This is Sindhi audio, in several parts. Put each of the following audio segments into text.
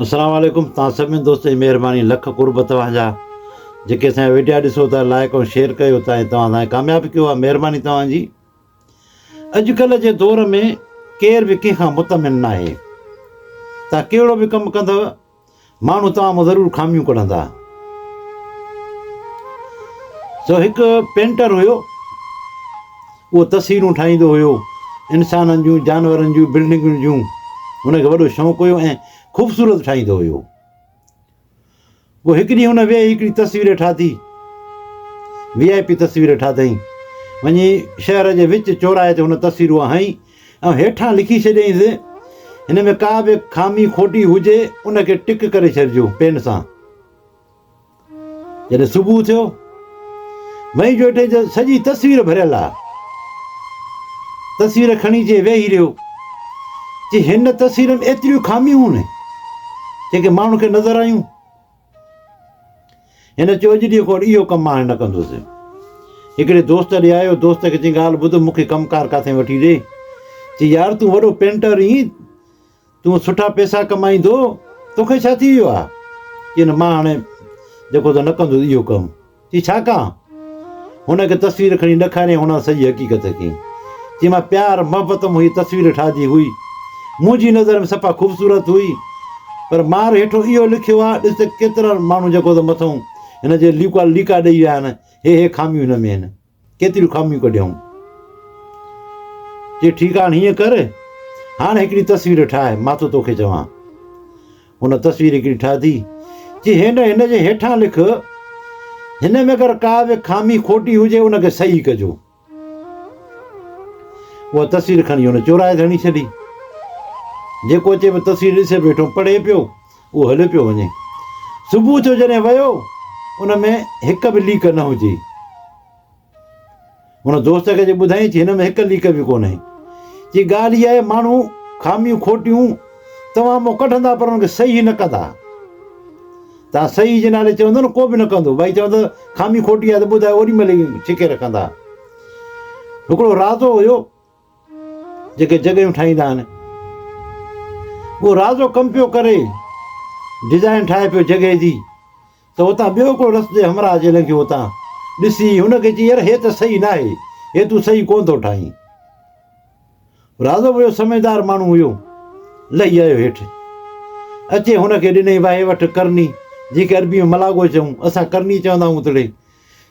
اسلام عليڪم توهان سڀني دوستن جي مهرباني لک قرب توهان جا جيڪي اسان جا وڊيا ڏسو ٿا لائڪ ۽ شيئر ڪيو ٿا ۽ توهان اسان کي ڪامياب ڪيو آهي مهرباني توهان جي اڄڪلهه جي دور ۾ ڪير به ڪنهن کان مطمئن نه آهي توهان ڪهڙو به ڪم ڪندو ماڻهو توهان مان ضرور خاميون ڪڍندا سو هڪ پينٽر هيو اهو تصويرون ٺاهيندو هيو، انسانن جون، جانورن جون، بلڊنگن جون. هن کي وڏو شوق هيو ۽ خوبصورت ٺاهيندو هيو. پوء هڪ ڏينهن هن ويهي هڪڙي تصوير ٺاهي. وي آء پي تصوير ٺاهيائين. وڃي شهر جي وچ چوراهي تي هن تصوير اها هنئي ۽ هيٺان لکي ڇڏيائينس، هن ۾ ڪا به خامي کوٽي هجي ان کي ٽڪ ڪري ڇڏجو پين سان. جڏهن صبح ٿيو، مئي جو اٽي جو سڄي تصوير ڀريل آ. تصوير کڻي چي ويهي رهيو. چي هن تصوير ۾ ايتريون خاميون هن، جيڪي ماڻهن کي نظر آيون. هن چيو اڄ ڏينهن کان اهو ڪم هاڻي نه ڪندوس. هڪڙي دوست ڏي آيو، دوست کي چي ڳالهه ٻڌ مون کي ڪم ڪار ڪاٿي وٺي ڏي. چي يار تون وڏو پينٽر اين، تون سٺا پيسا ڪمائيندو، توکي ڇا ٿي ويو آهي؟ چي نه مان هاڻي جيڪو ته نه ڪندس اهو ڪم. چي ڇا ڪان؟ هن کي تصوير کڻي ڏيکاريائين هن سڄي حقيقت کي. چي مان پيار محبت مون هيء تصوير ٺاهي هئي. منهنجي نظر ۾ صفا خوبصورت هئي. پر مار هيٺون اهو لکيو آهي ڏس ته ڪيترا ماڻهو جيڪو ته مٿئون هن جي ليڪا ليڪا ڏئي ويا آهن هي هي خاميون هن ۾ آهن. ڪيتريون خاميون ڪڍيائون. چي ٺيڪ آ هاڻ هيئن ڪر هاڻ هڪڙي تصوير ٺاهه مان ٿو توکي چوان. ان تصوير هڪڙي ٺاهي چي هن هن جي هيٺان لک هن ۾ اگر ڪا به خامي کوٽي هجي ان کي صحيح ڪجو. اها تصوير کڻي هن چورائي هيٺ هڻي ڇڏي. جيڪو اچي پيو تصوير ڏسي پيو هيٺون پڙهي پيو. اهو هليو پيو وڃي. صبح جو جڏهن ويو ان ۾ هڪ به ليڪ نه هجي. هن دوست کي جي ٻڌائين چي هن ۾ هڪ ليڪ به ڪونه هي. چي ڳالهه اها آهي ماڻهو خاميون کوٽيون توهان مون ڪڍندا پر ان کي صحيح نه ڪندا. تان صحيح جي نالي چوندو نه ڪو به نه ڪندو ڀائي چوندو خامي کوٽي آهي ته ٻڌايو اوري ملي ڇڪي رکندا هڪڙو راضو هيو جيڪي جڳهيون ٺاهيندا آهن اهو رازو ڪم پيو ڪري ڊزائين ٺاهي پيو جڳهي جي ته اتان ٻيو هڪڙو رس جي همراهه اچي لنگهيو اتان ڏسي هن کي چي يار هي ته صحيح ناهي هي تون صحيح ڪونه ٿو ٺاهين رازو ويو سمجهدار ماڻهو هيو لهي آيو هيٺ اچي هن کي ڏني واهي وٺ ڪرني جيڪي عربي ۾ ملاگو چئون اسان ڪرني چوندا آهيون اتڙي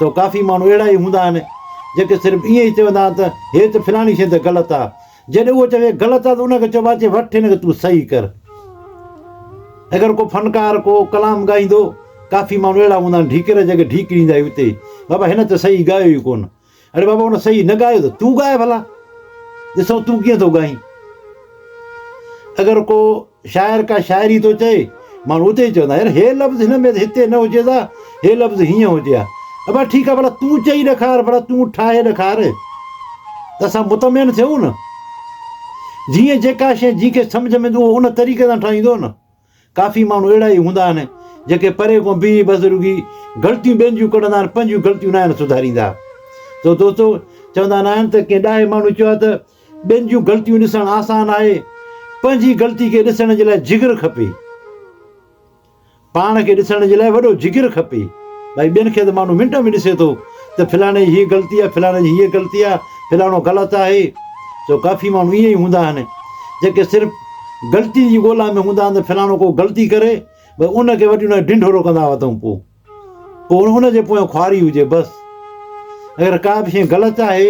سو ڪافي ماڻهو اهڙا ئي هوندا آهن، جيڪي صرف ائين ئي چوندا آهن ته هيت فلاڻي شيء ته غلط آ. جڏهن اهو چوي غلط آ ته ان کي چئبو آ چي وٺ هن کي تون صحيح ڪر. اگر ڪو فنڪار ڪو ڪلام ڳائيندو، ڪافي ماڻهو اهڙا هوندا آهن ڍيڪر جيڪي ڍيڪريندا ئي اتي، بابا هن ته صحيح ڳايو ئي ڪونه. اڙي بابا ان صحيح نه ڳايو ته تون ڳاء ڀلا ڏسون تون ڪيئن ٿو ڳائين اگر ڪو شاعر ڪا شاعري ٿو چئي ماڻهو اتي ئي چوندا يار هي لفظ هن ۾ هتي نه هجيس ها هي لفظ هيئن هجي ها ابا ٺيڪ آهي ڀلا تون چئي ڏيکار ڀلا تون ٺاهي ڏيکار ته اسان مطمئن ٿيون نه جيئن جيڪا شيء جنهن کي سمجھ ۾ ايندو ان طريقي سان ٺاهيندو نه ڪافي ماڻهو اهڙا ئي هوندا آهن جيڪي پري کان بيهي بزرگي غلطيون ٻين جون ڪڍندا آهن پنهنجون غلطيون ناهن سڌاريندا سو دوستو چوندا ناهن ته ڪنهن ڏاهي ماڻهو چيو آهي ته ٻين جون غلطيون ڏسڻ آسان آهي پنهنجي غلطي کي ڏسڻ جي لاء جگر کپي پاڻ کي ڏسڻ جي لاء وڏو جگر کپي ڀائی ٻين کي ته ماڻهو منٽ ۾ ڏسي ٿو ته فلاڻي جي هيء غلطي آهي، فلاڻي جي هيء غلطي آهي، فلاڻو غلط آهي، سو ڪافي ماڻهو ائين ئي هوندا آهن، جيڪي صرف غلطي جي ڳولا ۾ هوندا آهن ته فلاڻو ڪو غلطي ڪري بس ان کي وٺي ان کي ڍنڍورو ڪندا هئا اٿئون پوء پوء ان ان جي پويان خواري هجي بس اگر ڪا به شيء غلط آهي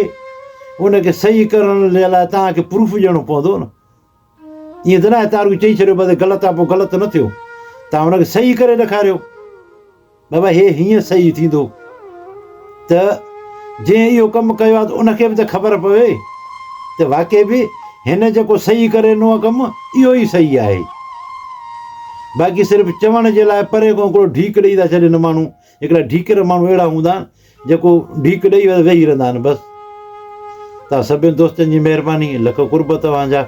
ان کي صحيح ڪرڻ جي لاء توهان کي پروف ڏيڻو پوندو نه ائين ته ناهي ته هر ڪو چئي ڇڏيو بس غلط آهي پوء غلط نه ٿيو توهان هن کي صحيح ڪري ڏيکاريو بابا هي هيئن صحيح ٿيندو ته جنهن اهو ڪم ڪيو آهي ته ان کي به ته خبر پوي ته واقعي به هن جيڪو صحيح ڪري ڏنو آهي ڪم اهو ئي صحيح آهي باقي صرف چوڻ جي لاء پري کان هڪڙو ڍيڪ ڏئي ٿا ڇڏين ماڻهو هڪڙا ڍيڪر ماڻهو اهڙا هوندا آهن جيڪو ڍيڪ ڏئي ويهي رهندا آهن بس توهان سڀني دوستن جي مهرباني لک قرب توهان جا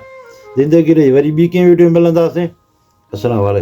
زندگي رهي وري ٻي ڪنهن ويڊيو ۾ ملنداسين السلام عليڪم.